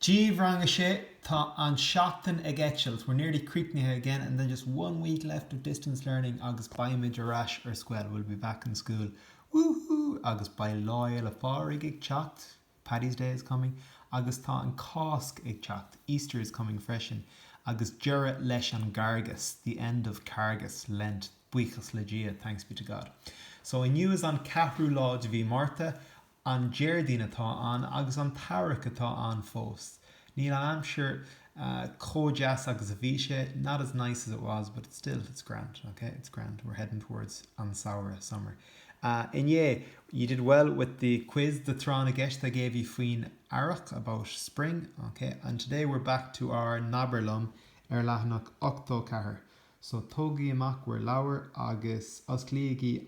Dia dhaoibh Rang 6, Tá an seachtain ag eitilt, we're nearly críochnaithe again and then just one week left of distance learning agus beimid ar ais ar scoil, we'll be back in school, woohoo! Agus beidh Lá Fhéile Phádraig ag teacht, Paddy's Day is coming, agus tá an Cáisc ag teacht, Easter is coming freisin, agus deireadh leis an gCargas, the end of Cargas, Lent, buíochas le Dia, thanks be to God. So inniu is an ceathrú lá de mhí Márta An Déardaoin atá ann agus an t-earrach atá ann fós. Níl an aimsir chomh deas agus a bhí sé, not as nice as it was but still it's grand, ok, it's grand, we're heading towards an samhradh, summer. Inné, you did well with the quiz, the tráth na gceist I gave you faoin earrach, about spring, ok, and today we're back to ár nAbair Liom ar leathanach 84. So tógaigí amach bhur leabhair agus osclaígí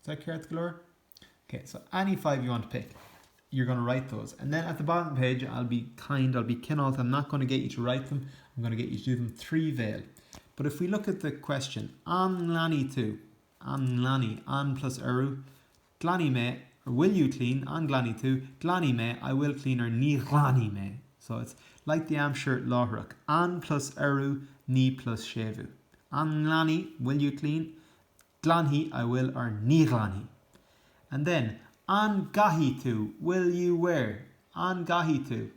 Is that ceart go leor? Ok, so any five you want to pick, you're going to write those. And then at the bottom of the page, I'll be kind, I'll be cineálta, I'm not going to get you to write them, I'm going to get you to do them trí bhéal. But if we look at the question, an nglanfaidh tú? An nglanfaidh, an plus eru, glanfaidh mé, or will you clean? An nglanfaidh tú? Glanfaidh mé, I will clean, or ní ghlanfaidh mé. So it's like the aimsir láithreach. An plus eru, ní plus séimhiú. An nglanfaidh, will you clean? Glanfaidh, I will or Ní ghlanfaidh. And then, An gcaithfidh tú? Will you wear? An gcaithfidh tú?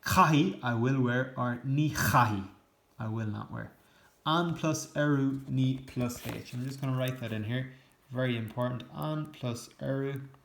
Caithfidh, I will wear or Ní chaithfidh, I will not wear. An plus urú Ní plus H. And I'm just going to write that in here. Very important. An plus urú.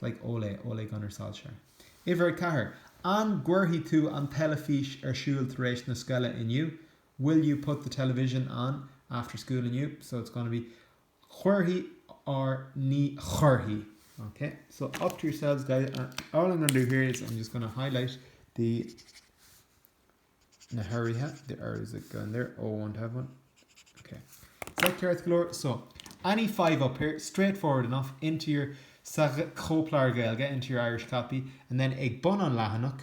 Like Ole, Ole Gunnar Solskjaer. Uimhir a ceathair, An gcuirfidh tú an teilifís ar siúl tar éis na scoile inniu? Will you put the television on after school inniu? So it's going to be Cuirfidh or Ní chuirfidh. Ok, so up to yourselves guys. All I'm going to do here is I'm just going to highlight the na huruithe, the urús that go in there, ól won't have one, ok. Sách ceart go leor, so, any five up here, straightforward enough, into your, sa chóipleabhar Gaeilge, into your Irish copy, and then ag bun an leathanach,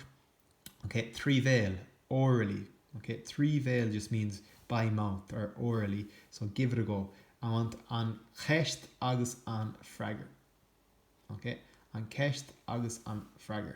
ok, trí bhéal, orally, ok, trí bhéal just means by mouth or orally, so give it a go, I want an cheist agus an freagar, ok, an cheist agus an freagar.